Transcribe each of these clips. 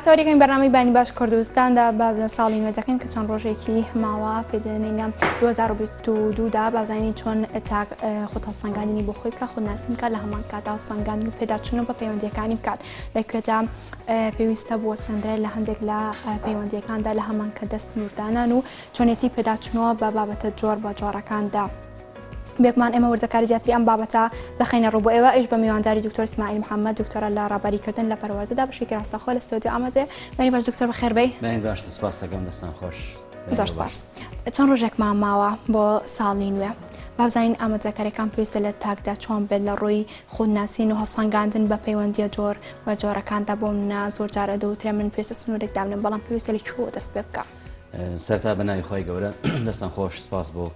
تاریخی بەرنامەی بانی باش کوردستاندا باز لە ساڵی نوێ دەکەین کە چەند ڕۆژێکی ماوە پێدێنینە 2022 دا بازانین چۆن تاک خود هەڵسەنگاندنی بۆ خۆی بکە خود ناسین بکات لە هەمان کاتا سەنگاندن و پێداچنە بە پەیوەندەکانی بکات لە کوێدا پێویستە بۆ سندرە لە هەندێک لە پەیوەندەکاندا لە هەمان کە دەست نوردانان و چۆنێتی پێداچنەوە بە بابەتە جۆر بە جۆرەکاندا. بێگومان ئێمە وردەکاری زیاتری ئەم بابەتە دەخەینە ڕوو بۆ ئێوە ئەویش بە میوانداری دکتۆر ئیسماعیل محەممەد دکتۆرە لە ڕابەریکردن لە پەروەردەدا بەشێکی ڕاستەخۆ لە ستۆدیۆ ئامادەیە بەری باش دکتۆر بەخێر بێی بەری باش سپاس دەکەم دەستان خۆش زۆر سپاس چەند ڕۆژێکمان ماوە بۆ ساڵی نوێ بابزانین ئامادەکاریەکان پێویستە لە تاکدا چۆن بێت لە ڕووی خودناسین و هەسەنگاندن بە پەیوەندیە جۆر و جۆرەکاندا بۆ منە زۆر جارە دەوترێ من پێویستە سنوورێک دابنم بەڵام پێویستە لە چوە دەست پێ بکە سەرتا بە ناوی خۆی گەورە دەستان خۆش سپاس بۆ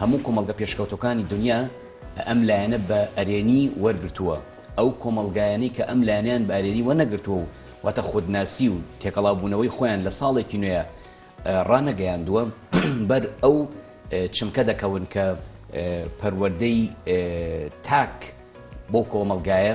هەموو کۆمەڵگە پێشکەوتوەکانی دونیا ئەم لایەنە بە ئەرێنی وەرگرتووە، ئەو کۆمەڵگایانەی کە ئەم لایەنەیان بە ئەرێنی وەرنەگرتووە و واتە خودناسی و تێکەڵاوبوونەوەی خۆیان لە ساڵێکی نوێ ڕانەگەیاندووە بەر ئەو چمکە دەکەون کە پەروەردەی تاک بەو کۆمەڵگایە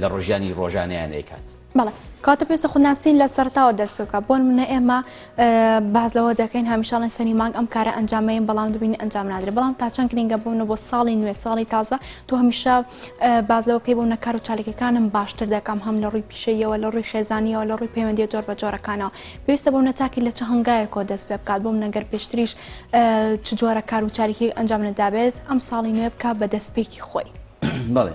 لە ڕۆژیانی ڕۆژانەیان ئەیکات. بەڵێ کاتە پێویستە خودناسین لە سەرتاوە دەست پێ بکات بۆ نمونە ئێمە باز لەوە دەکەین هەمیشاڵێن سەری مانگ ئەم کارە ئەنجامەیەن بەڵام دەبین ئەنجام نادرێت بەڵام تا چەند گرنگە بوونە بۆ ساڵی نوێ ساڵی تازە تۆ هەمیشە باز لەوەکەی بوو نەکار و چالەکەکانم باشتر دەکەم هەم لە ڕووی پیشەیەوە لە ڕووی خێزانیەوە لە ڕووی پەیوەندی جۆر بە جۆرەکانەوە پێویستە بۆ نەتاکی لە چ هەنگایەکەوە دەست پێ بکات بۆم نەگەر پێشتریش چ جۆرە کار و چاریکی ئەنجام نەدابێت ئەم ساڵی نوێ بکە بە دەستپێکی خۆی بڵێ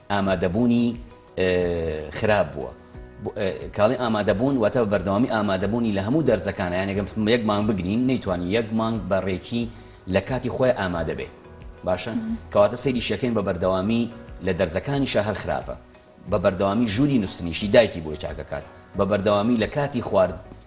ئامادەبوونی خراپ بووە. کاڵی ئامادەبوون واتە بەردەوامی ئامادەبوونی لە هەموو دەرزەکانە یانەگەم یەک مانگ بگرین نەیتوانانی یەک مانگ بە ڕێکی لە کاتی خۆی ئامادەبێ باشە کەواتە سەیری شەکەین بە بەردەوامی لە دەرزەکانی شە هەر خراپە بە بەردەوامی ژووری نوستنیشی دایکی بۆی چاکەکات بە بەردەوامی لە کاتی خوارد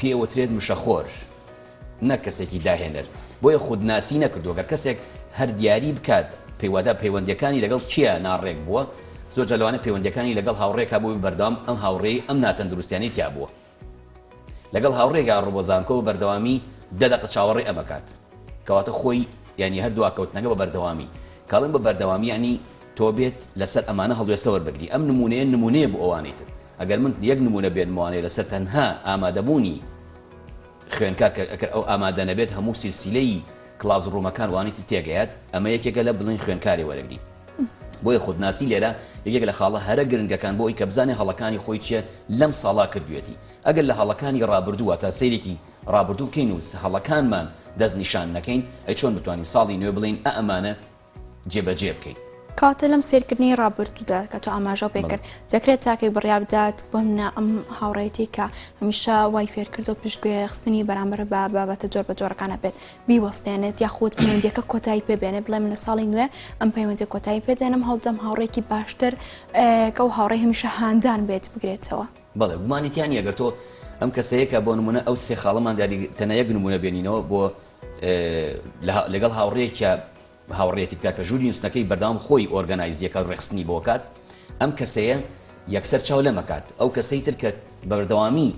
پێوترێت مشەخۆر نەک کەسێکی داهێنەر بۆیە خودناسی نەکردو گەر کەسێک هەر دیاری بکات پێیوادا پەیوەندەکانی لەگەڵ چیا ناڕێک بووە زۆر جلوانە پەیوەندەکانی لەگەڵ هاوڕێکا بووی بەردام ئەم هاوڕێی ئەم ناتەندروستیانی تیا بووە لەگەڵ هاوڕێگا ڕوبۆ زانکۆ بەردەوامی دەدەقە چاوەڕێ ئەمەکات کەواتە خۆی ینی هەردووا کەوتنەکە بە بەردەوامی کاڵم بە بەردەوامی ینی تۆ بێت لەسەر ئەمانە هەڵوێسەوەەر بگری ئەم نمونەیە نمونەیە بۆ ئەوانیتر ئەگەر من یەک نموونە بێنمەوانێ لەسەر تەنها ئامادەبوونی خوێنکار کە ئەکەر ئەو ئامادە نەبێت هەموو سیلسیلەی کلاس ڕوومەکان وانیتی تێگەیات ئەمە یەکێکە لە بڵێن خوێنکارێ وەرەگری بۆیە خودناسی لێرە یەکێک لە خاڵە هەرە گرنگەکان بۆ ئەوی کە بزانێ هەڵەکانی خۆی چیە لەم ساڵا کردوێتی ئەگەر لە هەڵەکانی ڕابردوو واتە سەیرێکی ڕابردوو بکەین و هەڵەکانمان دەست نیشان نەکەین ئەی چۆن بتوانین ساڵی نوێ بڵێین ئە ئەمانە جێبەجێ بکەی. کەواتە لەم سەیرکردنەی ڕابردوودا کە تۆ ئاماژە پێ کرد، دەکرێت تاکێک بڕیار بدات بۆ نمونە ئەم هاوڕێیەتی کە هەمیشە وای فێر کردووە پشت گوێ خستنی بەرامبەر بە بابەتە جۆر بە جۆرەکان هەبێت بیوەستێنێت یاخود پەیوەندییەکە کۆتایی پێ بێنێت بڵێ من لە ساڵی نوێ ئەم پەیوەندی کۆتایی پێ دێنم هەوڵدەم هاوڕێکی باشتر کە ئەو هاوڕێ هەمیشە هاندان بێت بگرێتەوە. بەڵێ گومانی تیا نییە گەر تۆ ئەم کەسەیە کە بۆ نمونە ئەو سێ خاڵەمان دیاری تەنیا یەک نمونە بێنینەوە بۆ لەگەڵ هاوڕێیەکیا هاوڕێتی بکە کە ژووری نووسنەکەی بەردەوام خۆی ئۆرگەنایزیەکە ڕێخستنی بۆکات ئەم کەسەیە یەکسەر چاو لەمەکات ئەو کەسەی تر کە بەردەوامی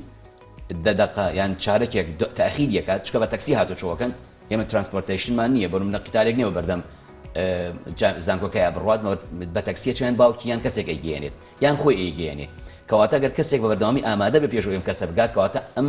دەدەقە یان چارەکێک تاخیر یەکات چکە بە تەکسی هاتو چۆکەن ئێمە ترانسپۆرتیشنمان نییە بۆ منە قیتالێک نێوە بەردەم زانکۆکەیە بڕات بە تەکسیە چیان باوکی یان کەسێک ئەیگەێنێت یان خۆی ئەیگەێنێ کەواتە گەر کەسێک بە بەردەوامی ئامادە بە پێشوەم کەسە بگات کەواتە ئەم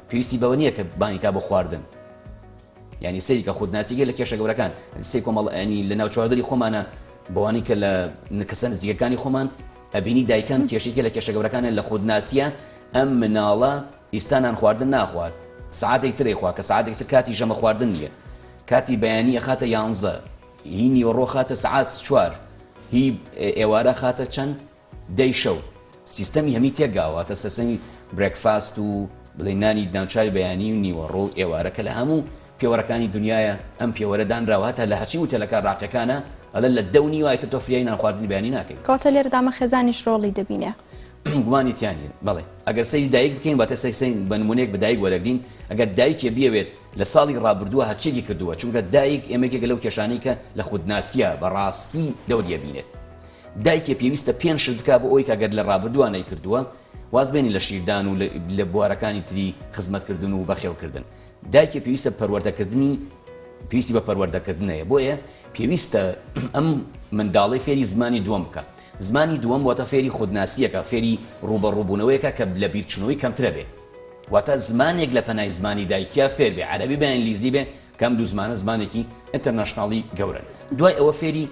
پێویستی بەوە نیە کە بانگی کا بۆ خواردن یعنی سەیری کە خودناسی گەلە کێشە گەورەکان سی کۆمەڵ ئەنی لە ناوچواردنی خۆمانە بەوانی کە لە نکەسە نزیکەکانی خۆمان ئەبینی دایکان کێشێکی لە کێشە گەورەکانە لە خودناسیە ئەم مناڵە ئیستانان خواردن ناخوات سعاتێک ترێ خوا کە سعاتێک تر کاتی ژەمە خواردن نیە کاتی بەیانی ئەخاتە یانزە هی نیوەڕۆ خاتە سعات چوار هی ئێوارە خاتە چەند دەی شەو سیستەمی هەمی تێک گا واتە سەسەنی برێک فاست و بڵێی نانی ناوچای بەیانی و نیوەڕۆ و ئێوارە کە لە هەموو پێوەرەکانی دنیایە ئەم پێوەرە دانراوە هەتا لە هەرچی وتێلەکە ڕاقیەکانە ئەڵێن لە دە و نیوە ئیتر تۆ فریای نان خواردنی بەیانی ناکەی. کەواتە لێرەدا مە خێزانیش ڕۆڵی دەبینێ. گومانی تیا نیە بەڵێ ئەگەر سەیری دایک بکەین واتە سەی سەی بە نمونەیەک بە دایک وەرەگرین ئەگەر دایکێ بیەوێت لە ساڵی ڕابردووە هەرچیەکی کردووە چونکە دایک ئێمە یەکێکە لەو کێشانەی کە لە خودناسیە بە ڕاستی دەوریە بینێت دایکێ پێویستە پێنج شت بکا بۆ ئەوەی کە گەر لە ڕابردووا نەیکردووە واز بێنی لە شیردان و لە بوارەکانی تری خزمەتکردن و بەخێوکردن. دایکێ پێویستە پەروەردەکردنی پێویستی بە پەروەردەکردن هەیە بۆیە پێویستە ئەم منداڵەی فێری زمانی دووەم بکا. زمانی دووەم واتە فێری خودناسییەکە، فێری ڕووبەڕووبوونەوەیەکە کە لەبیرچوونەوەی کەمترە بێ. واتە زمانێک لە پەنای زمانی دایکیا فێر بێ، عەرەبی بێ، ئینگلیزی بێ، کە ئەم دوو زمانە زمانێکی ئینتەرناشناڵی گەورەن دوای ئەوە فێری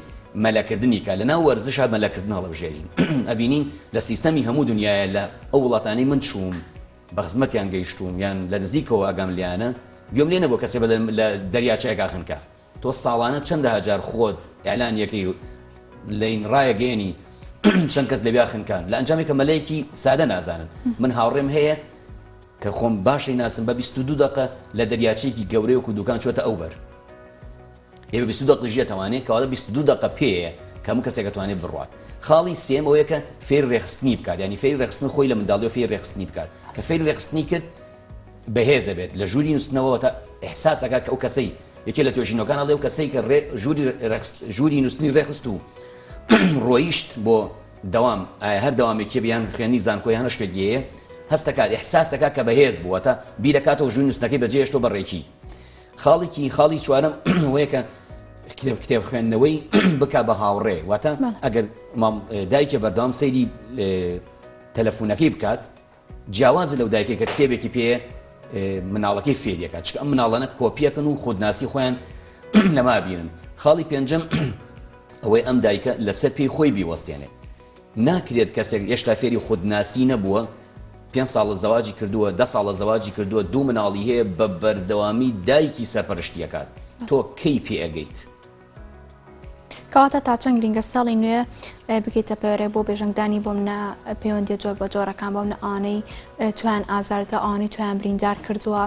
مەلەکردنی کا لەناو وەرزشا مەلەکردن هەڵەبژێرین ئەبینین لە سیستەمی هەموو دنیایە لە ئەو وڵاتانەی من چووم بە خزمەتیان گەیشتووم یان لە نزیکەوە ئاگام لێیانە گوێم لێ نەبووە کەسێ بەلێم لە دەریاچەیەکا خنکا تۆ ساڵانە چەندەها جار خۆت ئیعلان یەکەی و لین ڕایەگەیەنی چەند کەس لەویا خنکان لە ئەنجامێکە مەلەیەکی سادە نازانن من هاوڕێم هەیە کە خۆم باش ئەیناسم بە بیست و دوو دەقە لە دەریاچەیەکی گەورەی وەکو دوکان چوەتە ئەو بەر ئێ بە بیست و دەق دژی ئەتوانێ کەواتە بیست و دوو دەقە پێیە کە هەموو کەسێک ئەتوانێ بڕوات خاڵی سێم ئەوەیە کە فێری رێکخستنی بکات یانی فێری رێکخستن خۆی لە منداڵیەوە فێری رێکخستنی بکات کە فێری رێکخستنی کرد بەهێز ئەبێت لە ژووری نووستنەوە وەتا ئیحساس ئەکات کە ئەو کەسەی یەکێ لە توێژینەوەکان ئەڵێ ئەو کەسەی کە رێ ژووری رێکخست ژووری نووستنی رێکخست و رۆیشت بۆ دەوام، ئایا هەر دەوامێکیە بێ یان خوێندنی زانکۆ یان هەر شتێک گێیە؟ هەست دەکات، احساس، دەکات کە بەهێز بوو واتە بیرەکاتەوە ژووی نوستنەکەی بەجێ هێشتەوە بە ڕێکی خاڵێکی خاڵی چوارەم ئەوەیە کە کتێب کتێب خوێندنەوەی بکا بە هاوڕێ واتە ئەگەر دایکە بەردەوام سەیری تەلەفونەکەی بکات جیاوازە لەو دایکەی کە کتێبێکی پێیە مناڵەکەی فێری ئەکات، چونکە ئەم مناڵانە کۆپی ئەکەن و خودناسی خۆیان لەمە ئەبینن. خاڵی پێنجەم ئەوەی ئەم دایکە لەسەر پێی خۆی بیوەستێنێت. ناکرێت کەسێک هێشتا فێری خودناسی نەبووە، پێنج ساڵە زەواجی کردووە، دە ساڵە زەواجی کردووە، دوو مناڵی هەیە، بە بەردەوامی دایکی سەرپەرشتی ئەکات. تۆ کەی پێ ئەگەیت؟ کەواتە تا چەند گرنگە ساڵی نوێ بکەیتە پەرێ بۆ بێژنگدانی بۆم نە پەیوەندی جۆر بە جۆرەکان بۆم نە ئانەی تویان ئازاردە ئانی تویان بریندار کردووە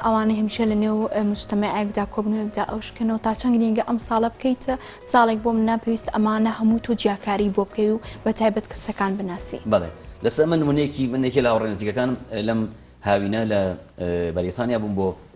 ئەوانە هەمیشە لە نێو مشتمەعێکدا کۆبنوێکدا ئەو شکەنەوە تا چەند گرنگە ئەم ساڵە بکەیتە ساڵێک بۆم ناپێویست ئەمانە هەموو تۆ جیاکاری بۆ بکەی و بە تایبەت کەسەکان بناسی بڵێ لەسەر من منێکی منێکی لە هاوڕێنزیکەکانم لەم هاوینە لە بەریتانیا بووم بۆ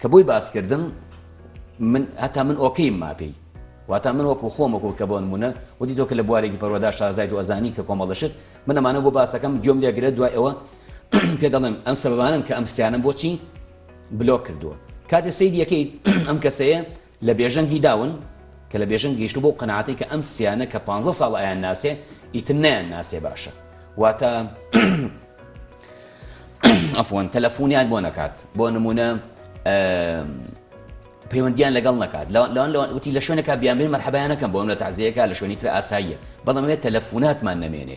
کە بۆی باس کردم من هەتا من ئۆکەیم ماپێی واتا من وەکو خۆم وەکو کە بۆ نمونە وتی تۆ کە لە بوارێکی پەروەدا شازای دو ئەزانی کە کۆمەڵشت من ئەمانە بۆ باسەکەم گوێم لێگرێت دوای ئەوە پێ دەڵێم ئەم سەبانن کە ئەم سیانم بۆچی بلۆک کردووە کاتێ سەیریەکەیت ئەم کەسەیە لە بێژەنگی داون، کە لە بێژەنگ گەیشتووە بەو قەناعەتەی کە ئەم سیانە کە پانزە ساڵە ئەیانناسێ، ئیتر نایانناسێ باشە. واتە، عەفوەن، تەلەفونیان بۆ نەکات. بۆ نموونە، پەیوەندییان لەگەڵ نەکات. لەوان، لەوان، لەوان، وتی، لە شوێنێکا بیانبەین مەرحەبایان نەکەم، بۆ ئەم لە تەعزیەیەکا لە شوێنی تر ئاساییە. بەڵام ئەوێ تەلەفوناتمان نەمێنێ.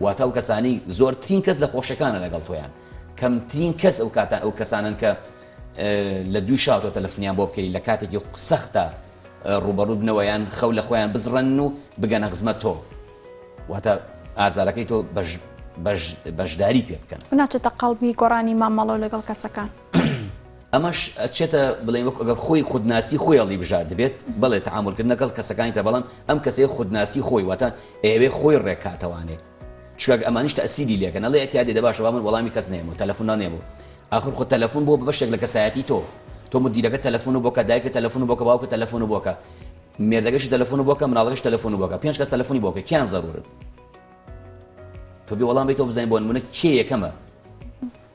واتە ئەو کەسانەی زۆرترین کەس لە خۆشەکانە لەگەڵ تۆیان کەمترین کەس ئەو کاتە ئەو کەسانن کە لە دوو شاتۆ تەلەفنیان بۆ بکەی لە کاتێکی سەختە ڕوبەڕوو بنەوەیان خەو لە خۆیان بزڕن و بگەنە خزمە تۆ واتە ئازارەکەی تۆ بەش بەشداری پێ بکەن ناچێتە قەڵبی گۆڕانی مامەڵەوە لەگەڵ کەسەکان. ئەمەش ئەچێتە بڵێن وەک ئەگەر خۆی خودناسی خۆی هەڵی بژاردبێت بەڵێ تەعاملکرد نەگەڵ کەسەکانی تر بەڵام ئەم کەسەیە خودناسی خۆی واتە ئەیەوێ خۆی ڕێکاتەوانێت چکاک ئەمانیش تەسیری لێکەن ئەڵێ ئەتیادێ دەباشە با من وەڵامی کەس نێم و تەلەفۆنا نێم و ئاخر خۆ تەلەفۆن بۆ بەشێک لە کەسایەتی تۆ تۆ مدیرەکە تەلەفۆن و بۆکە دایکە تەلەفۆن و بۆکە باوکە تەلەفۆن و بۆکە مێردەکەشی تەلەفۆن و بۆکە مناڵەکەش تەلەفۆن و بۆکە پێنج کەس تەلەفۆنی بۆکە کیان زەرورن تۆ بێ وەڵام بیتەوە بزانین بۆ نمونە کێ یەکەمە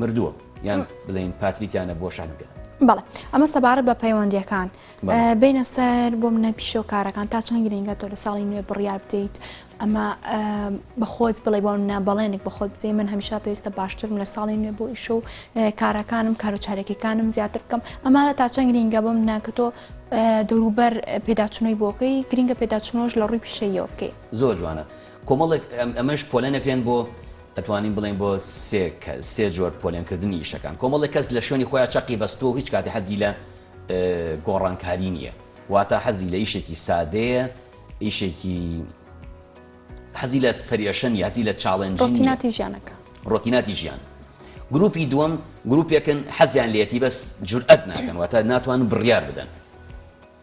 مردووە یان بڵێین پاتریکیانە بۆ شانگە. بەڵێ ئەمە سەبارەت بە پەیوەندیەکان بینە سەر بۆ منە پیشەوە کارەکان تا چەند گرنگە تۆ لە ساڵی نوێ بڕیار بدەیت ئەمە بەخۆت بڵێ بۆ منە بەڵێنێک بەخۆت بدەی من هەمیشا پێویستە باشترم لە ساڵی نوێ بۆ ئیشە و کارەکانم کار و چارێکەکانم زیاتر بکەم ئەمانە تا چەند گرنگە بۆ منە کە تۆ دەوروبەر پێداچنەوەی بۆکەی گرنگە پێداچنەوەش لە ڕووی پیشەیەوە بکەیت زۆر جوانە کۆمەڵێک ئەمەش پۆلێنەکرێن بۆ ئەتوانین بڵێین بۆ سێ کەس سێ جۆر پۆلێن کردنی ئیشەکان کۆمەڵێک کەس لە شوێنی خۆیان چەقی بەستووە و هیچ کاتی حەزی لە گۆڕانکاری نییە واتا حەزی لە ئیشێکی سادەیە ئیشێکی حەزی لە سەریەشەنی هەزی لە چاڵێن ڕۆتیناتی ژیانەکە ڕۆتیناتی ژیان گروپی دووەم گروپێکن حەزیان لێتی بەس جورئەت ناکەن واتە ناتوان بڕیار بدەن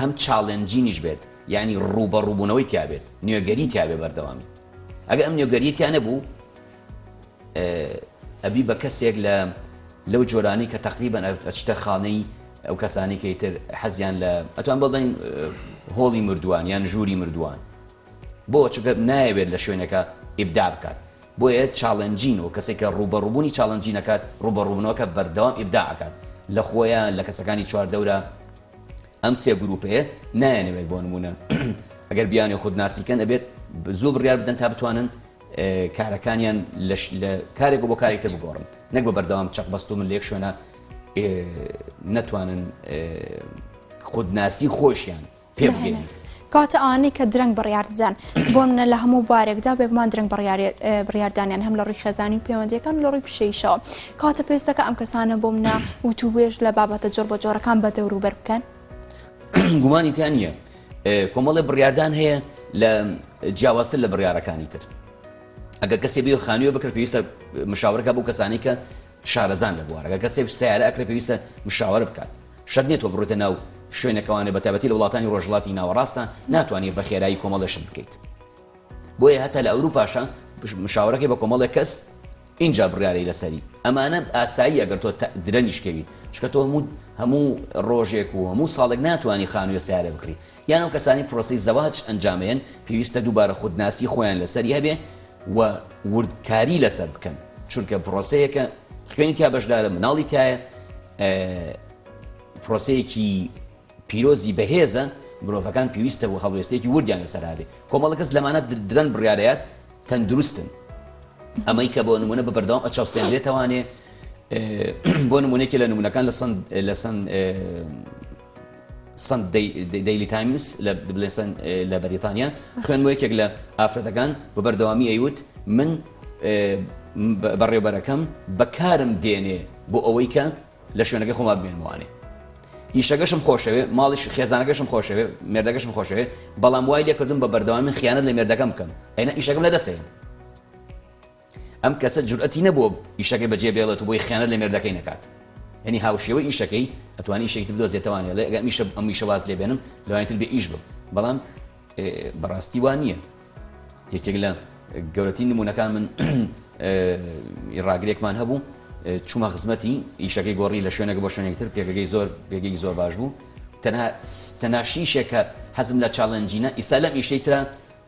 هەم چاڵێنجینیش بێت یانی ڕووبەڕووبوونەوەی تیا بێت نوێگەری تیا بێ بەردەوامی ئەگەر ئەم نوێگەریە تیا نەبوو ئەبی بە کەسێک لە لەو جۆرانی کە تەقریبەن ئەچتە خانەی ئەو کەسانی کەی تر حەزیان لە ئەتوان بڵین هۆڵی مردووان یان ژووری مردووان بۆ چگە نایەوێت لە شوێنەکە ئیبدا بکات بۆیە چاڵنجین و کەسێک کە ڕوبەڕوبوونی چاڵنجینەکات ڕوبەڕوبنەوەکە بەردەوام ئیبداعکات لە خۆیان لە کەسەکانی چواردەورە ئەم سێ گروپەیە نایەنەوێت بۆ نمونە ئەگەر بیانێ خود ناسیکەن ئەبێت زۆ بڕیار بدەن تا بتوانن کارەکانیان لە کارێک بۆ کارێکتە بگۆڕن نەک بە بەردەوام چەق بەست و من لێک شوێنە نەتوانن خودناسی خۆشیان پێ بگەین. کەواتە ئەوانەی کە درەنگ بڕیاردەدەن بۆ منە لە هەموو بارێکدا بێگومان درەنگ بڕیاردانیان هەم لە ڕووی خێزانی و پەیوەندیەکان لە ڕووی پیشەیشەوە کاتە پێستەکە ئەم کەسانە بۆ منە وتوبێژ لە بابەتە جۆر بە جۆرەکان بە دەوروبەر بکەن گومانی تیان نییە کۆمەڵی بڕیاردان هەیە لە جیاوازتر لە بڕارەکانی تر ئەگە کەسێ بێ خانوێ بکرد پێویستە مشاورەکە بۆ کەسانی کە شارەزان لە بوارەکە کەسێک سەیارە ئەکرێت پێویستە مشاوەرە بکات شەرت نیە تۆ بڕۆیتە ناو شوێنەکەوانێ بەتایبەتی لە وڵاتانی ڕۆژهەڵاتی ناوەڕاستە ناتوانیت بە خێرایی کۆمەڵێ شت بکەیت بۆیە هەتا لە ئەوروپاشە مشاوەرەکەی بە کۆمەڵێک کەس ئینجا بڕیارەی لەسەری ئەمانە ئاسایی ئەگەر تۆ درەنگیش کەوی چکە تۆ هەموو هەموو ڕۆژێک و هەموو ساڵێک ناتوانانی خانوویە سەیارە بکڕی یان ئەو کەسانی پرۆسی زەواج ئەنجامێن پێویستە دووبارە خودناسی خۆیان لەسەری هەبێ و وردکاری لەسەر بکەن چونکە پرۆسەیەکە خوێنی تیا بەشدارە مناڵی تایە پرۆسەیەکی پیرۆزی بەهێزە مرۆڤەکان پێویستە بۆ هەڵوێستێکی وردیان لەسەرابێ کۆمەڵە کەس لەمانە درەن بڕارەیات تەندروستن ئەمەی کە بۆ نمونە بە بەردەوام ئەچەوسێن لێتوانێ بۆ نمونێکی لە نمونونەکان لە سند لە سند سەن دەیلی تایمز لە بلێسن لە بەریتانیا خوێندمەوە، یەکێک لە ئافرەتەکان بە بەردەوامی ئەیوت من بەڕێوبەرەکەم بەکارم دێنێ بۆ ئەوەی کە لە شوێنەکەی خۆما بمێنمەوانێ، ئیشەکەشم خۆشەوێ، ماڵیش خێزانەکەشم خۆشەوێ، مێردەکەشم خۆشەوێ، بەڵام وای لێکردووم بە بەردەوامی خیانەت لە مێردەکەم بکەم، ئەینا ئیشەکەم لەدەستەیە. ئەم کەسە جورئەتی نەبووە ئیشەکەی بەجێ بێڵێت و بۆی خیانەت لە مێردەکەی نەکات یەنی هاوشێوەی ئیشەکەی ئەتوانی ئیشێکی تر بدۆزێ تەوان ئێڵێ ئەگەر ئیشە ئەم ئیشە واز لێ بێنم لەوانی تر بێ ئیش بم بەڵام بەڕاستی وا نییە یەکێک لە گەورەترین نمونونەکان من ڕاگرێکمان هەبوو چوومە خزمەتی ئیشەکەی گۆڕی لە شوێنەکە بۆ شوێنێک تر پێگەکەی زۆر پێگەی زۆر باش بوو تەنها تەناشیشێکە حەزم لە چاڵنجینە ئیسا لەم ئیشەی ترە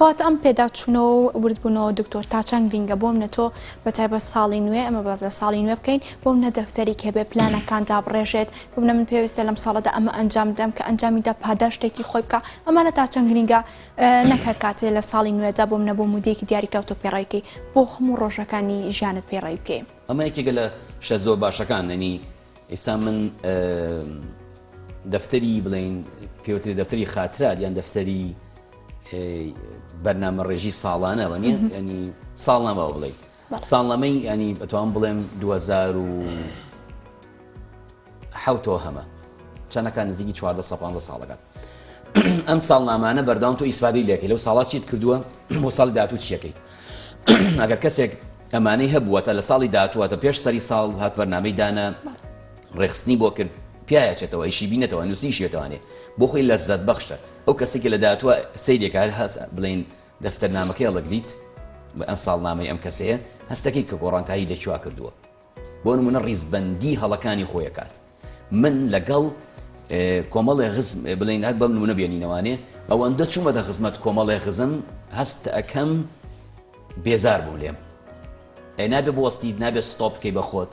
کات ئەم پێداچونەوە و ورد بونەوە دکتۆر تاچەند گرینگە بۆ منە تۆ بە تایبەت ساڵی نوێ ئەمە باس لە ساڵی نوێ بکەین بۆ منە دەفتەریک هەبێ پلانەکان دابڕێژێت بۆ منە من پێویستە لەم ساڵەدا ئەمە ئەنجام بدەم کە ئەنجامی دا پاداشتێکی خۆی بکا ئەمانە تاچەند گرینگە نەک هەر کاتێ لە ساڵی نوێدا بۆ منە بۆ مودەیەکی دیاریکراو تۆ پێڕاویکەی بۆ هەموو ڕۆژەکانی ژیانت پێڕەوی بکەی. ئەمە یەکێکە لە شتە زۆر باشەکان یەنی ئیستا من دەفتەری بڵێین پێوتری دەفتەری خاترات یان دەفتەری بەرنامە ڕێژی ساڵانە وە نیە ینی ساڵ نامەوە بڵێ ساڵەمەی ینی بەتوان بڵێم 2000 و حوتەوە هەمە چەندەکان نزیکی 14 ساڵەکەات ئەم ساڵ نامانە بەرداوم تۆ ئیسفادی لەکە لەو ساڵات چیت کردووە بۆ ساڵ داات و چیەکەی ئەگەر کەسێک ئەمانەی هەبووەتە لە ساڵی دااتواتە پێش سەری ساڵ هات بەرنامەی دانا ڕێخستنی بۆ کرد پیاچێتەوە ئیشی بینێتەوە نووسیشێتوانێ بۆ خۆی لە زەت بەخشە ئەو کەسەی کە لە داهاتووە سەیری ئەکا هەر هەست بڵێین دەفتەرنامەکەی هەڵەگریت بە ئەم ساڵنامەی ئەم کەسەیە هەستەکەی کە گۆڕانکاری لە چوا کردووە بۆ نموونە ڕیزبەندی هەڵەکانی خۆی ئەکات من لەگەڵ کۆمەڵێ غزم بڵێین هەر بەم نموونە بێنینەوانێ ئەوەندە چوومەتە خزمەت کۆمەڵێ غزم هەست ئەکەم بێزار بوو لێم ئەی نابێ بۆستیت نابێ ستۆپ بکەی بە خۆت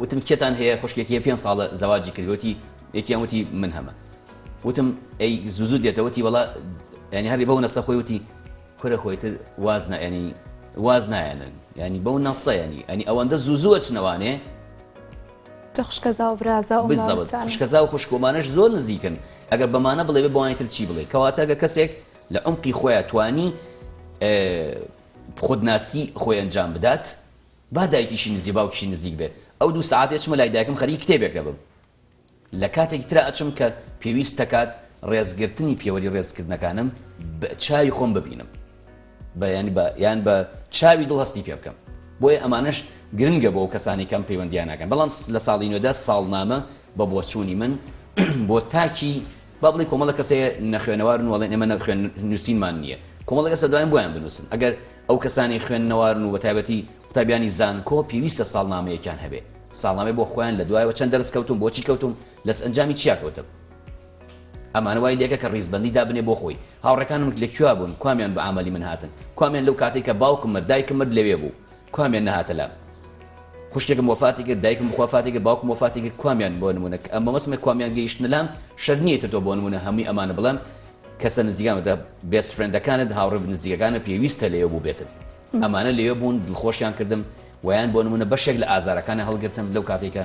وتم کێتان هەیە خوشکێکی هەیە پێنج ساڵە زەواجی کرد وتی یەکیان وتی من هەمە وتم ئەی زوو زوو دێتە وتی وەڵا ینی هەری بەو نەسە خۆی وتی کورە خۆی تر واز نایەنی واز نایەنن ینی بەو نەسە ینی ئەنی ئەوەندە زوو زووە چنەوانێ خوشکەزا و برازا و بزەوت خوشکەزا و خوشکۆمانش زۆر نزیکن ئەگەر بەمانە بڵێ بێ بۆوانی تر چی بڵێ کەواتە گە کەسێک لە عمقی خۆیان توانی خودناسی خۆی ئەنجام بدات با دایکیشی نزیک باوکیشی نزیک بێت ئەو دوو سەعاتەی ئەچمە لای دایکم خەریکی کتێبێک دەبم لە کاتێکی ترا ئەچم کە پێویست دەکات ڕێزگرتنی پێوەری ڕێزکردنەکانم بە چاوی خۆم ببینم بە یانی بە یان بە چاوی دڵ هەستی پێ بکەم بۆیە ئەمانەش گرنگە بۆ کەسانی کەم پەیوەندیانەکەن بەڵام لە ساڵی نوێدا ساڵنامە بە بۆچوونی من بۆ تاکی با بڵێین کۆمەڵێک کەس هەیە نەخوێنەوارن و ئەڵێن ئێمە نە خوێن نووسینمان نییە، کۆمەڵێک کەس لە دواین بۆیان بنووسن، ئەگەر ئەو کەسانەی خوێندنەوارن و بەتایبەتی قوتابیانی زانکۆ پێویستە ساڵنامەیەکیان هەبێ، ساڵنامەی بۆ خۆیان لە دوایەوە چەند دەرس کەوتووم، بۆچی کەوتووم، لەس ئەنجامی چیا کەوتم. ئەمانە وای لێکە کە ڕیزبەندی دابنێ بۆ خۆی، هاوڕێکانم لە کوێ بوون، کوامیان بە ئامەلی من هاتن، کوامیان لەو کاتەی کە باوکم مرد، دایکم مرد لەوێ بوو، کوامیان نەهاتە لام خوشکێکم وەفاتی کرد دایکم بخوافاتی کرد باوکم وەفاتی کرد کوامیان بۆ نمونە کە ئەمە مەسمە کوامیان گەیشتنە لام شەر نییە تۆ بۆ نمونە هەمووی ئەمانە بڵێم کەسە نزیکانەوە دە بێست فرێندەکانت هاوڕێ نزیکەکانە پێویستە لەوێ بوو بێتن ئەمانە لەوێ بوون دڵخۆشیان کردم ویان بۆ نمونە بەشێک لە ئازارەکانی هەڵگرتم لەو کاتێکە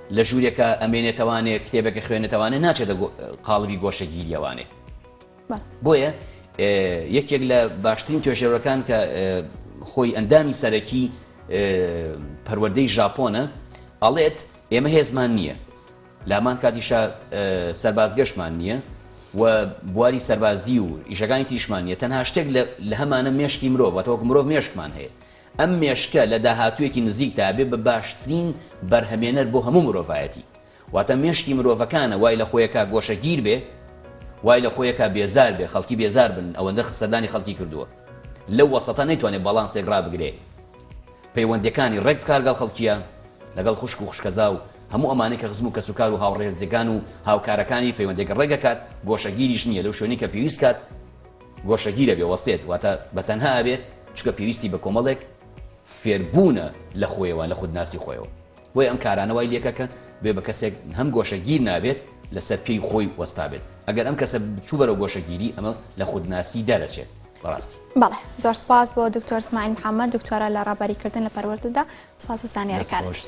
لە ژوورێکە ئەمێنێتەوانێ کتێبێکە خوێنێتەوانێ ناچێتە قاڵبی گۆشەگیریەوانێ بۆیە یەکێک لە باشترین توێژێرەکان کە خۆی ئەندامی سەرەکی پەروەدەی ژاپۆنە ئەڵێت ئێمە هێزمان نییە لامان کاتیشە سەربازگەشمان نییە و بواری سەربازی و ئیشەکانی تیشمان نیە تەنها شتێک لە هەمانە مێشکی مرۆڤەتەوەک مرۆڤ مێشکمان هەیە ئەم مێشکە لە داهاتوویەکی نزیکدا ئەبێ بە باشترین بەرهەمێنەر بۆ هەموو مرۆڤایەتی. واتە مێشکی مرۆڤەکانە وای لە خۆی ئەکا گۆشەگیر بێ، وای لە خۆی ئەکا بێزار بێ، خەڵکی بێزار بن، ئەوەندە سەردانی خەڵکی کردووە. لەو وەسەتە نەیتوانێ باڵانسێک ڕابگرێ. پەیوەندییەکانی ڕێک بکا گەڵ خەڵکییە، لەگەڵ خوشک و خوشکەزا و هەموو ئەمانەی کە خزم و کەسوکار و هاوڕێزێکان و هاوکارەکانی پەیوەندێک ڕێک ئەکات، گۆشەگیریش نییە لەو شوێنەی کە پێویست کات، گۆشەگیر ئەبێ وەستێت واتە بە تەنها ئەبێت چونکە پێویستی بە کۆمەڵێک فێربوونە لە خۆیەوە لە خودناسی خۆیەوە بۆیە ئەم کارانە وای لێکە کە بێ بە کەسێک هەم گۆشەگیر نابێت لەسەر پێی خۆی وەستابێت ئەگەر ئەم کەسە بچوو بەرەو گۆشەگیری ئەمە لە خودناسی دەرەچێت بەڕاستی. بەڵێ زۆر سپاس بۆ دکتۆر سمایل محمد دکتۆرە لە ڕابەریکردن لە پەروەردەدا سپاس بۆ زانیاریکانت.